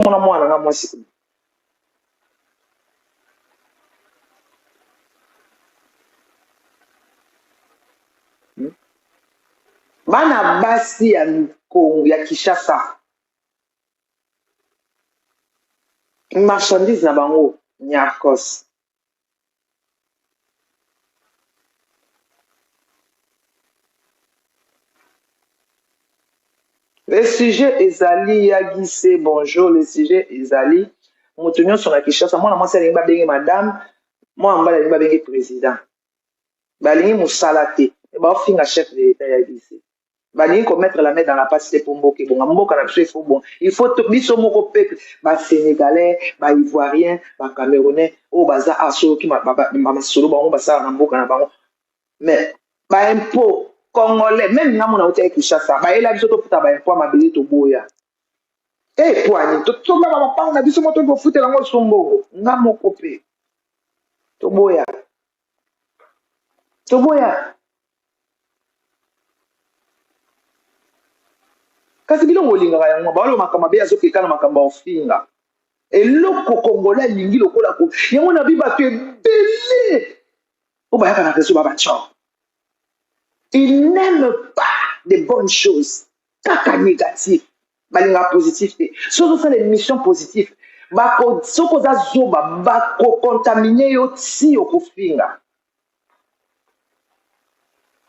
komona mwana nga mwasi oyo hmm? bana basi ya kongo ya kinshasa marchandise na bango nyarcos Le sujet ezali ya gise bonjour le sujet ezali moto nyonso na kinshasa mwana mwasi alingi babenge madame mwana mobali alingi babenge président balingi mosala te me baofinga chef de l'etat ya gise balingi ko mettre la main dans la passe te mpo mboka ebonga mboka na biso il faut bonga il faut biso moko peuple ba sénégalais ba ivoiriens ba camerounais oyo baza a soloki masolo bango basala na mboka na bango mais ba impôt congolais même nga mona otya kinshasa bayela biso tofuta ba impôt ya mabele toboya e eh, poani totongaka mapango na biso moko toki kofutela yango sombongo nga moko mpe toboya toboya kasi bino bolingaka yango baoyo makambo mabe azokeka na makambo ya ofinga eloko kongola elingi lokola ko yango na bi bato ebele oyo bayaka na rezo babatio il n'aime pas de bonnes choses kaka négatif balingaka positif te so ozosala émission positif soki oza zoba bakocontamine yo ti okofinga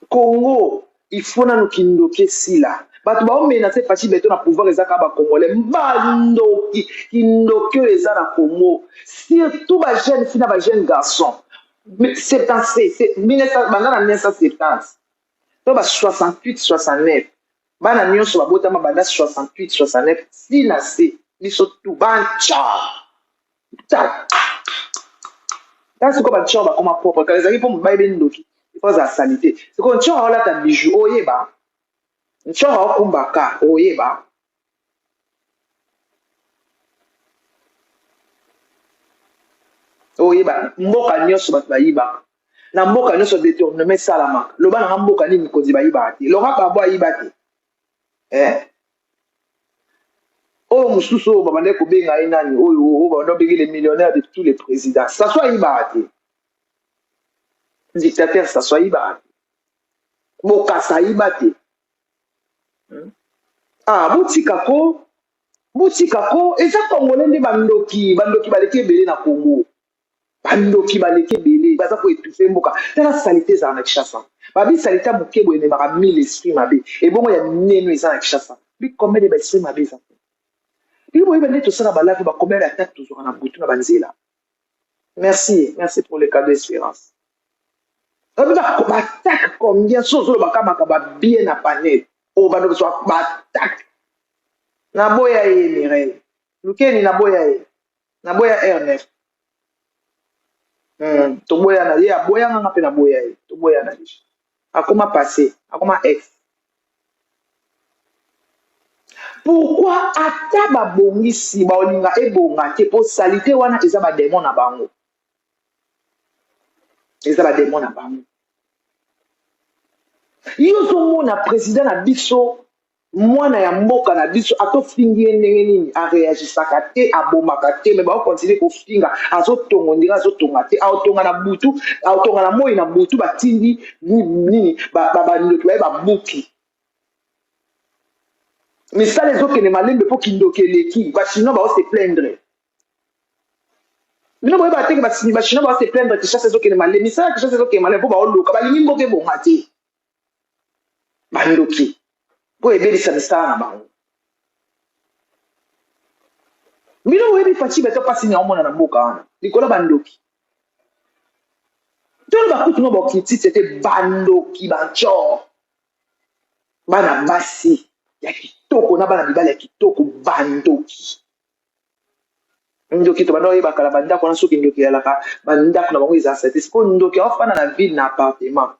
congo ifo nanu kindoki esila bato baomenase fashi beto na pouvoir eza kaka bacongolais bandoki kindoki oyo eza na congo surtout bajeune fi na bajeune garçon 1970 banda na 1970 to ba 68 69 bana nionso babotama banda 68 69 ti na se biso tu banca ta siko banca bakoma propre kala ezalaki mpo mobali be ndoki ifo azala salite siko nca olata bijou oyeba nca okumba ka oyeba oyeba mboka nyonso bato bayibaka na mboka nyonso detournement esalamaka loba nanga mboka nini mikonzi bayibaka te loka babo ayiba te eh? oyo mosusu oyo babandaki kobenga ye nani oyo oyo babanda obenge le millionnaire de tous les présidents saso ayibaka te dictateur saso ayibaka te bokasa ayiba te hmm? ah botika ko botika ko eza congolais nde bandoki bandoki baleki ebele na congo bandoki baleki ebele baza koetufe mboka tala salite ezala na kishasa babi salite ya moke boye ememaka mille esprit mabe ebongo ya mineno eza na kishasa bikombe de baesprit mabe eza bino boyeba nde tosala balave bakomele atake tozwaka na butu na banzela Merci, merci pour le cadeau Esperance. Obi ba ko attaque combien so zo ba kama ka ba bien na panel. O ba no so ba attaque. Na boya ye Mireille. Lukeni na boya ye. Na boya R9. Hmm, to boya na ye aboya nga pe na boya ye. To boya na ye. akoma passe akoma ex pourquoi ata babongisi baolinga ebonga te mpo salite wana eza bademo na bango eza bademo na bango yo ozomona président na biso Mwana ya mboka na biso ato fingi ye ndenge nini a reagisaka te abomaka te mais bao continue kofinga azo tonga ondire azo tonga te aotonga na butu aotonga na moi na butu batindi nini ba ba ndoki baye ba buki misala ezokende malembe mpo kindoki eleki bachinois bao se plaindre bino boyeba te ke bachinois bao se plaindre kishasa ezokende malembe misala kishasa ezokende malembe mpo baoloka balingi mboka ebonga te bandoki mpo ebebisa misala na bango bino boyebi faci beto mpasi nini aomona na mboka wana likolo bandoki toloba kutu no bokritisi ete bandoki bancor bana basi ya kitoko na bana mibali ya kitoko bandoki ndoki to banda oyeba kala bandako wana soki ndoki eyalaka bandako na bango eza sete sikoyo ndoki aofanda na ville na appartement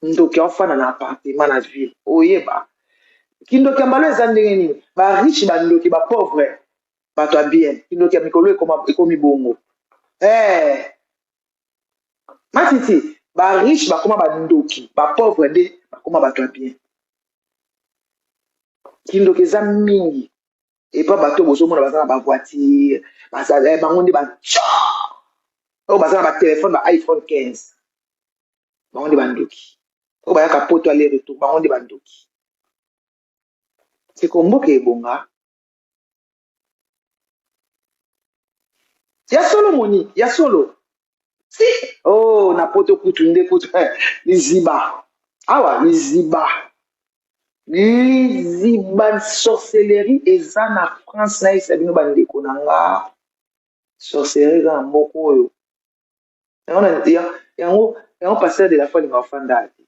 ndoki aofanda na appartement na ville oyeba kindoki ya mbalo eza ndenge nini ba riche ba ndoki ba pauvre bato ya bien kindoki ya mikolo ekomi bongo hey. Eh. matiti ba riche bakoma ba ndoki ba pauvre nde bakoma bato ya bien kindoki eza mingi epa bato oyo bozomona baza na bavoitire bazala eh, bango nde baco oyo baza na batelefone ba iphone 15 bango nde bandoki oyo bayaka poto ale retour bango nde bandoki seko mboka ebonga ya solo moni ya solo si oh na poto kutu nde kutu eh, liziba awa liziba liziba sorcellerie eza na france nayebisa bino bandeko na nga sorcellerie eza na moko oyo yango yango pasteur de la foi alinga ofanda te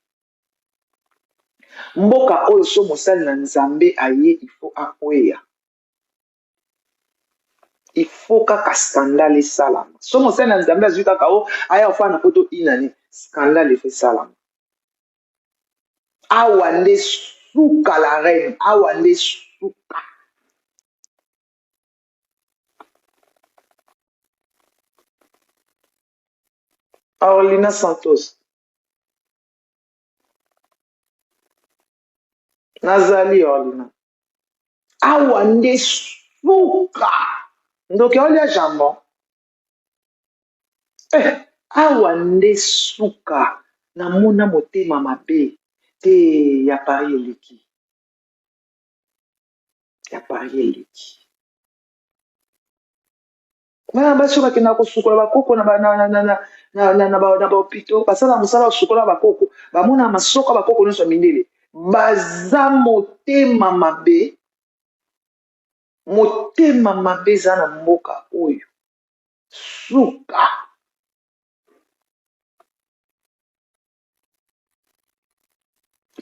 mboka oyo so mosali na nzambe aye ifo akweya il faut kaka scandale esalama so mosali na nzambe azwi kaka o oh, aya ofana na poto inani scandale efe esalama awa nde suka la reine awa nde suka Orlina Santos. nazali orlina awa nde suka ndoki aolia jambon eh, awa nde suka namona motema mabe te ya pari eleki ya pari eleki bana basi oyo bakendaka kosukola bakoko na bahopito basala mosala kosukola bakoko bamonaka masoka bakoko nyonso ya mindele baza motema mabe motema mabe eza na mboka oyo suka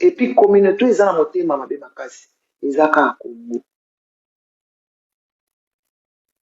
epuis communauté eza na motema mabe makasi eza kaka kongo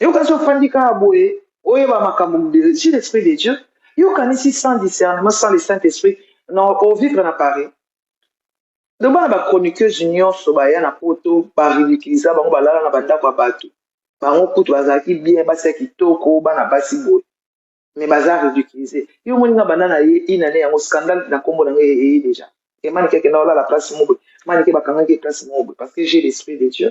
eyokasi ofandi kaka boye oyeba makambo si l'esprit de dieu yokanisi sans discernement sans le saint esprit na ovivre na paris donc bana bachroniqueuse nyonso baya na poto baridiculiza bango balala na bandako ya bato bango kutu bazalaki bien basi ya kitoko bana basi boye mais baza ridiculise yo omoni nga banda na ye inane yango scandal na nkombo na ngai eye deja emanike akenda olala place moko boye manike bakangaki ye place moko boye parce que j'ai l'esprit de dieu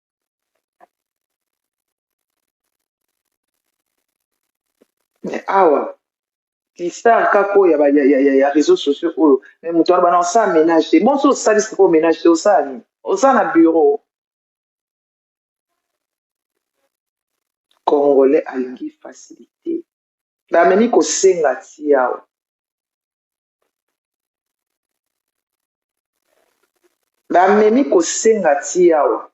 mais awa listar kaka oyo ya réseau sociaux oyo mais moto wana bana osala ménage te bonso osali sikoyo ménage te osala nini osala na bureau congolais alingi facilité Bamemi kosenga ti awa. Bamemi kosenga ti awa.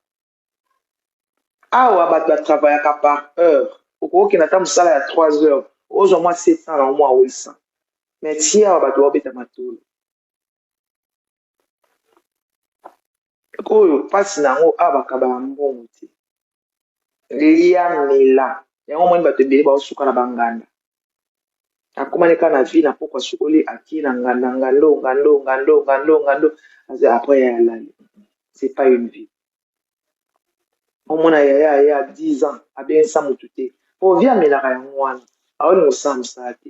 Awa bato ba travaillaka par heure. Okoki kokende ata mosala ya 3 heures ozwa mwa 700 na mwa 800 mais ti awa bato baobeta matolo. oyo mpasi na yango awa bakabaka mbongo te lia mela yango omoni bato ebele baosuka na banganda akomani kaka na vi na mpoko asukoli akie na nganda ngando ngando ngando ngando ngando aza apres ya yalali c'est pas une vie omona yaya ya 10 ans abengisa motu te mpo vi amelaka yango wana aolinga osala mosala te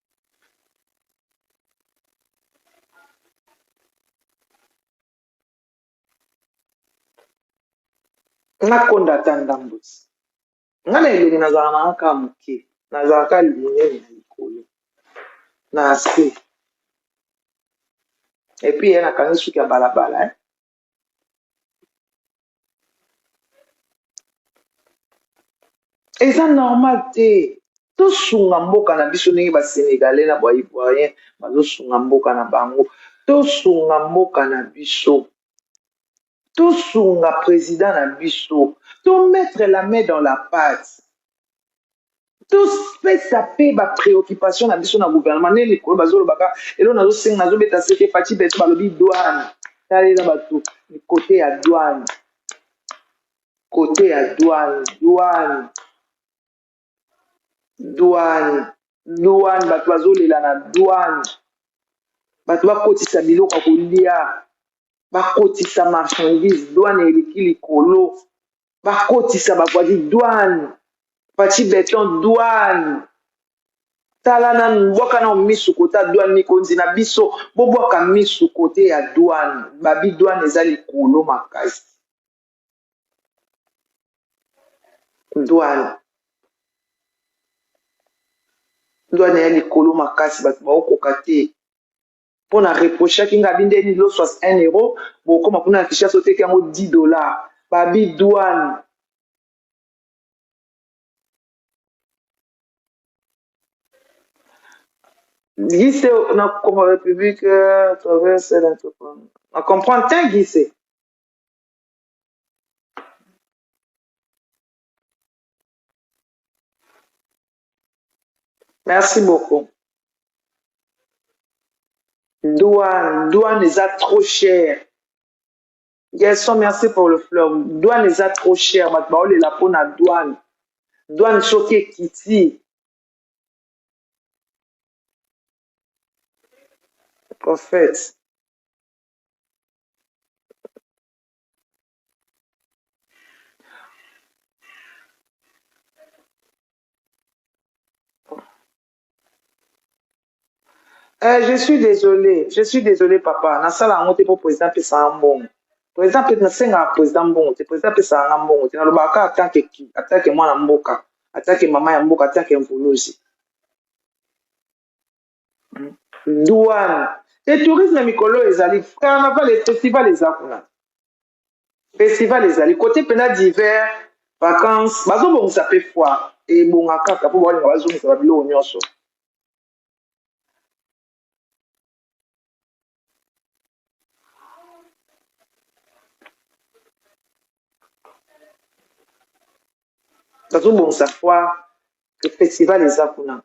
nakonda ata ndambo ti nga na elongi nazala na nga kaka moke nazala ka monene na likolo na se epuis ye nakangi suki ya balabala eza normal te tosunga mboka na biso ndenge basenegalais na baivoirien bazosunga mboka na bango tosunga mboka na biso tosunga président na biso tomettre la main dans la pate topesa mpe ba preoccupation na biso na gouvernement nde mikolo bazolobaka elo nazosenga nazobeta sete faci beto balobi douane talela bato kote ya douane kote ya douane douane douane douane bato bazolela na douane bato bakotisa biloko ya kolia bakotisa marchandise douane eleki likolo bakotisa bakwadi douane faci beton douane tala nanu bwaka nao misu kota douane mikonzi na biso bobwaka misu kote ya douane babi douane eza likolo makasi douane douane ya likolo makasi bato baokoka te mpo na reprochaki nga binde ni loso as 1 euro bokoma kuna na kishasa oteki yango 10 dollar babi douane gise na congo république euh, traverse na comprendre te gise Merci beaucoup. Douane, douane eza trop cher. Gerson, merci pour le fleur. Douane eza trop cher. Bato baolela mpo na douane. Douane soki ekiti. Prophète. Euh, je suis désolé, je suis désolé papa. Na sala yango te po président pesa nga mbongo. Président pe na senga président mbongo te. Président pesa nga mbongo te. Na loba ka attaque ki, attaque mwana mboka, attaque mama ya mboka, attaque mvuluzi. douane et tourisme mikolo oyo ezali carnaval et festival eza kuna festival ezali kote mpena d'hiver vacances bazobongisa mpe foire ebonga kaka mpo baolinga bazongisa babiloko nyonso nazobongisa foire festival eza kuna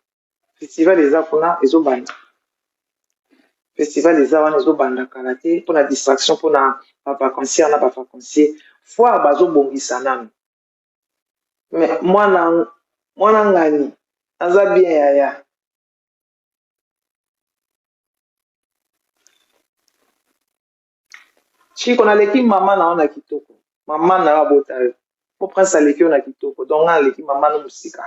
festival eza kuna ezobanda festival eza wana ezobanda kala te mpona distraction mpona bavacancier na bavacancier foire bazobongisa nanu mwana ngani aza bien yaya chiko naleki mama na yo na kitoko mama na yo abota yo po prince aleki yo na kitoko donc nga naleki mama no mosika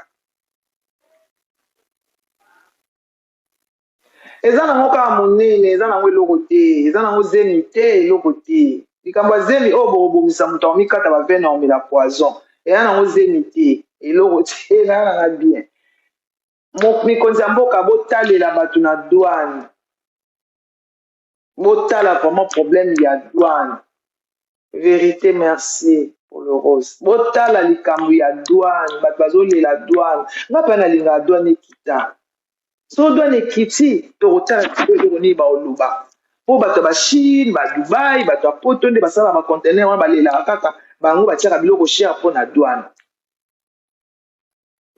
eza nango kaka monene eza nango eloko te eza nango zemi te eloko te likambo ya zemi oyo bokobomisa moto akomikata bavene akomela poison eza nango zemi te eloko te nanga nanga bien Mo- mikonzi ya mboka botalela bato na douane botala vraiment problème ya douane verité merci pour le rose botala likambo ya douane bato bazolela douane nga mpe nalingaka douane ekita so douane ekiti tokotala biso eloko nini baoloba mpo bato ya bachine badubai bato ya poto nde basalaka bacontener wana balelaka kaka bango batiaka biloko cher mpo na douane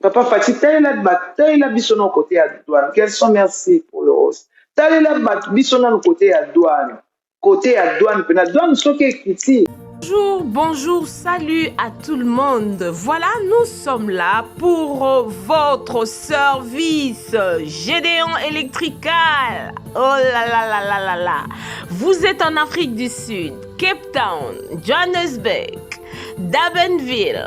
Papa Fatshi, talela ba talela biso no côté ya douane. Quels sont merci pour le rose. Talela ba biso no côté ya douane. Côté ya douane, pena douane soki ekiti. Bonjour, bonjour, salut à tout le monde. Voilà, nous sommes là pour votre service Gédéon électrical. Oh là là là là là là. Vous êtes en Afrique du Sud, Cape Town, Johannesburg, Dabenville.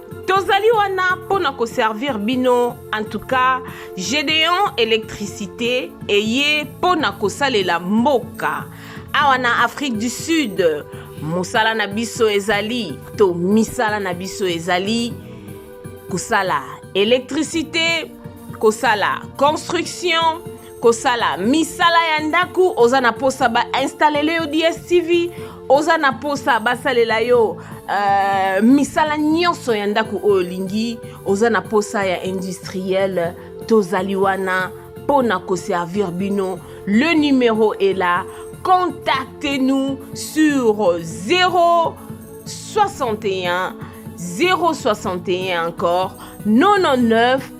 tozali wana mpo na koservir bino en tout cas gedeon électricité eye mpo na kosalela mboka awa na afrique du sud mosala na biso ezali to misala na biso ezali kosala électricité kosala construction kosala misala ya ndako oza na mposa bainstalele yo dstv oza na mposa basalela yo uh, misala nyonso ya ndako oyo olingi oza na mposa ya industriel tozali wana mpo na koservir bino le numero est là contactez nous sur 0 61 061 encore 99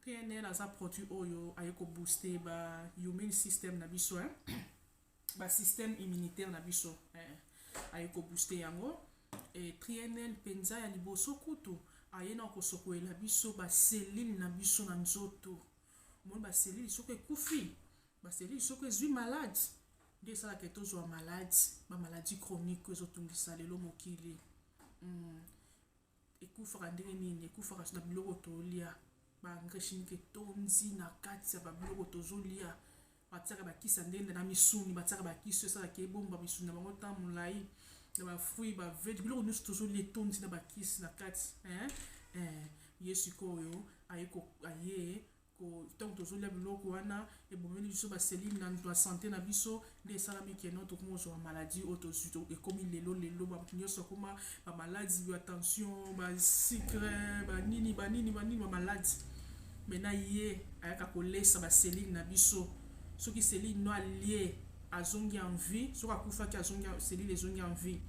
PNL aza produit oyo aye ko booster ba immune system na biso hein. ba système immunitaire na biso eh. aye ko booster yango eh, PNL penza ya liboso kutu aye na kosokolela biso ba cellule na biso na nzoto omoni ba cellule soki ekufi ba cellule soki ezwi malade nde esalaka tozwa malade ba maladie chronique ezotungisa lelo mokili mm. ekufaka ndenge nini ekufaka na biloko tolia ba engrais chimique etondi na kati ya babiloko tozolia batiaka bakisa ndenge na misuni batiaka bakisi esalaka ebomba misuni na bango ntan molai na bafruit bavete biloko nyonso tozolia etondi na bakisi na kati eh, eh, ye sikoyo aye ntango tozolia biloko wana ebomeli biso baselile na nto ya sante na biso nde esalami keno tokomi kozwa bamaladi oyo tozwi ekomi lelo lelo bato nyonso akoma bamaladi ya tension basikre banini banini banini bamaladi me na ye ayaka kolesa baselile na biso soki selile no alie azongi en vie soki akufaki azongi selile ezongi en vie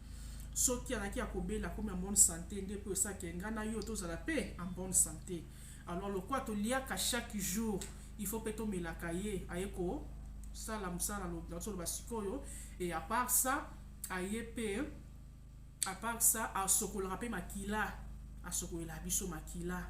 soki alaki ya kobela akomi en bonne sante nde mpo esaki engai na yo tozala mpe en bonne sante Alors lokwa to liaka chaque jour, il faut pe to melaka ye aye ko sala musala lo na solo basikoyo et à part ça aye pe à part ça asokolaka pe makila asokolela biso makila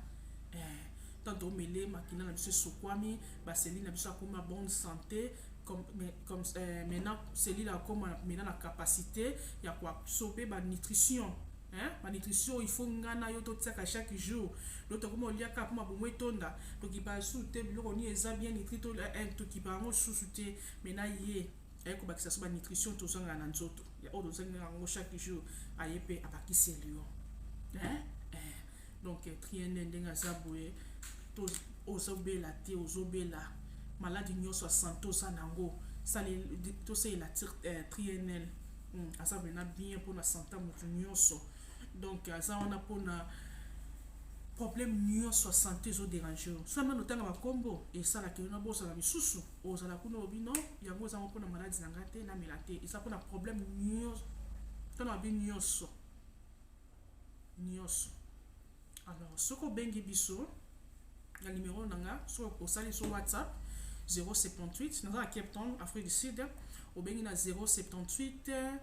eh tant omele makila na biso esokwami baseli na biso akoma bonne santé comme, mais, comme euh, maintenant celui là comme maintenant la capacité ya kwa sope ba nutrition hein ba nutrition il faut nga na yo to tiaka chaque jour donc to komo lia ka puma bomo etonda to ki ba su te biloko ni eza bien nitri to la un to ki ba ngo su su te mais na ye aye ko bakisa so ba nutrition to zanga na nzoto ya odo zanga ngo chaque jour aye pe abakisi elio hein eh. donc triende ndenge aza boye to ozobela te ozobela maladi nyonso ya santo oza nango tosalela eh, trienel Hmm, aza mena bien mpona santa motu nyonso donc aza wana mpona problème nyonso ya sante ezoderange yo so nano otanga bakombo esalaka yo na bozala misusu ozala kuna obi no yango ezango mpona maladi na ngai te namela te eza mpona problème nyonso ntona babi nyonso nioso alors soki obengi biso na numero na nga soki osali so whatsapp 078 naza na cape town afrique du sud obengi na 078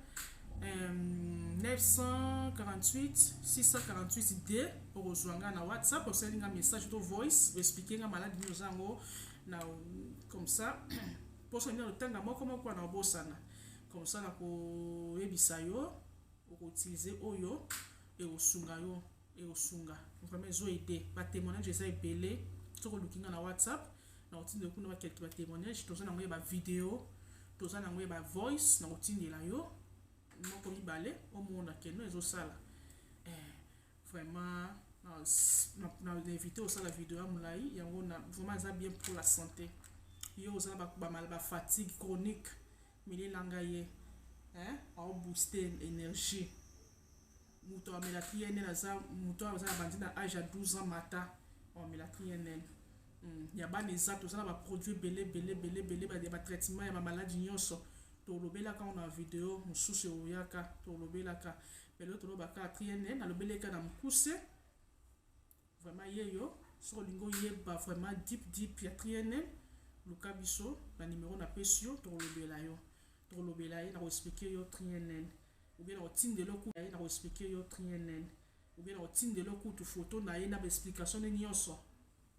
948 648 d okozwa nga na whatsapp osali nga message to voice oexplike nga maladi nini oza yango na comme ça mposo nini otanga moko moko na obosana comme ça nakoyebisa yo oko utiliser oyo ekosunga yo ekosunga vraiment ezo aide ba témoignage eza ebele soki oluki nga na whatsapp na otindela kuna ba quelque ba témoignage toza nango ya ba video toza nango ya ba voice na otindela yo moko mibale omona keno ezosala eh, vraiment na invité osala video ya molai yango na vraiment eza bien pour la santé yo oza na bafatigue chronique Meli na nga ye eh au booster energie mutu amela PNL aza mutu aza na bandi na âge ya 12 ans mata amela PNL hmm, ya bana eza toza na ba produits bele bele bele bele ba ba traitement ya ba maladies nyonso tolobelaka ngo na video mosusu eoyaka tolobelaka mais lelo tolobaka PNL nalobeleka na mokuse Vraiment yeyo soki olingi oyeba vraiment deep deep ya trienel luka biso na numero na pesi yo tokolobela yo tokolobela ye na koexplike yo trienel oubien na kotindela okuta ye na koexplike yo trienel oubien na kotindela okutu foto na ye na baexplication ne nyonso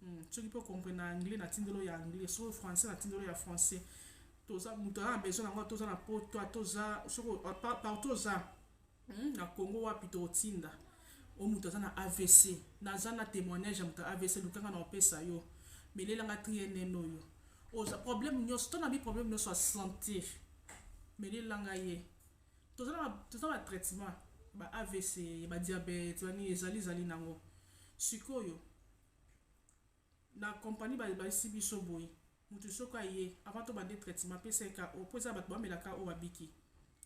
hmm, soki mpe okompre na anglais natindelo ya anglais soki français natindelo ya français toza moto aza na besoin na yango toza na poto toza soki partout oza Hum, na Congo wapi tokotinda o oh, moto aza na AVC naza na témoignage ya moto ya AVC lukanga na opesa yo melelanga trienen oyo oza problème nyonso to na bi problème nyonso ya santé melelanga ye toza na toza na traitement ba AVC ba diabète bani ezali ezali nango sikoyo Na company ba bayisi biso boye mutu soki aye avant to bande traitement apesa ye KO po eza batu ba mela KO ba biki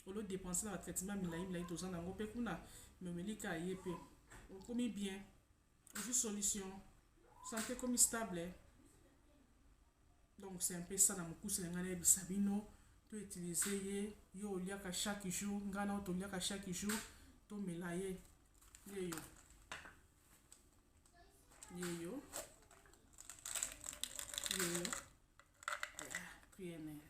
au lieu depense na ba traitement milayi milayi toza na ngo pe kuna mais omeli ka ye pe okomi bien ozui solution sante ekomi stable donc c'est un peu ça na mukuse na ngai na yebisa bino to utiliser ye yo oliaka chaque jour ngai na yo toliaka chaque jour to mela ye yeyo yeyo yeyo pnl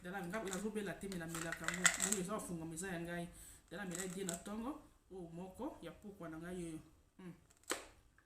dala nazobela te melamelaka yango yango eza bafungama eza ya ngai dala mela die na ntongo oyo moko ya pokwa na ngai yeyo hmm.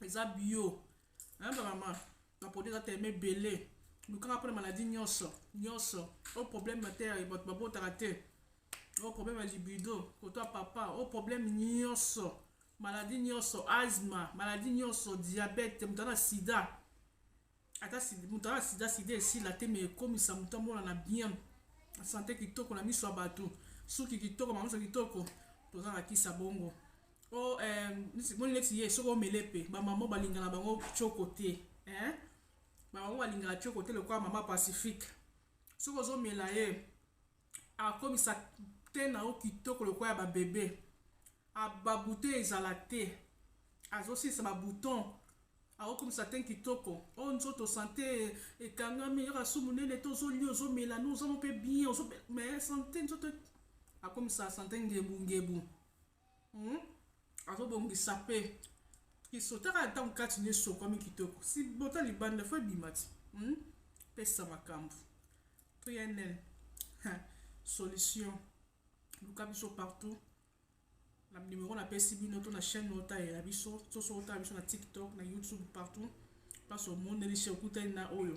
eza bio hein ba maman ba produit eza tellement ebele lukanga mpona maladie nyonso nyonso o oh, problème ya te ya bato babotaka te o oh, problème ya libido koto ya papa o oh, problème nyonso maladie nyonso asma maladie nyonso diabète moto na sida ata moto aa sida sida esila te me ekomisa moto amonana bien sante kitoko na miso ya bato suki kitoko bamiso kitoko toza na kisa bongo o oh, eh, moni neti ye soki omele mpe bamama balinga na bango coko te eh? bamama balingaka coko te lokola mama pacifique soki ozomela ye akomisa te na yo kitoko lokola ya babebe ah, babute ezala te azosilisa babuton Azo kumisa tein kitoko oh nzoto sante ekangami kaka su munene te ozo lia ozo mela no oza pe bien ozo mais sante nzoto akomisa sante ngebu ngebu hmm? azo bongisa pe kisotaka ntango kati na esokwami kitoko si bota libanda fo ebima ti hmm? pesa makambo pnl solution luka biso partout Na numero na pesi bino to na chaîne oyo talela biso to soki otala biso na TikTok na YouTube partout place omoneli chez okutani na oyo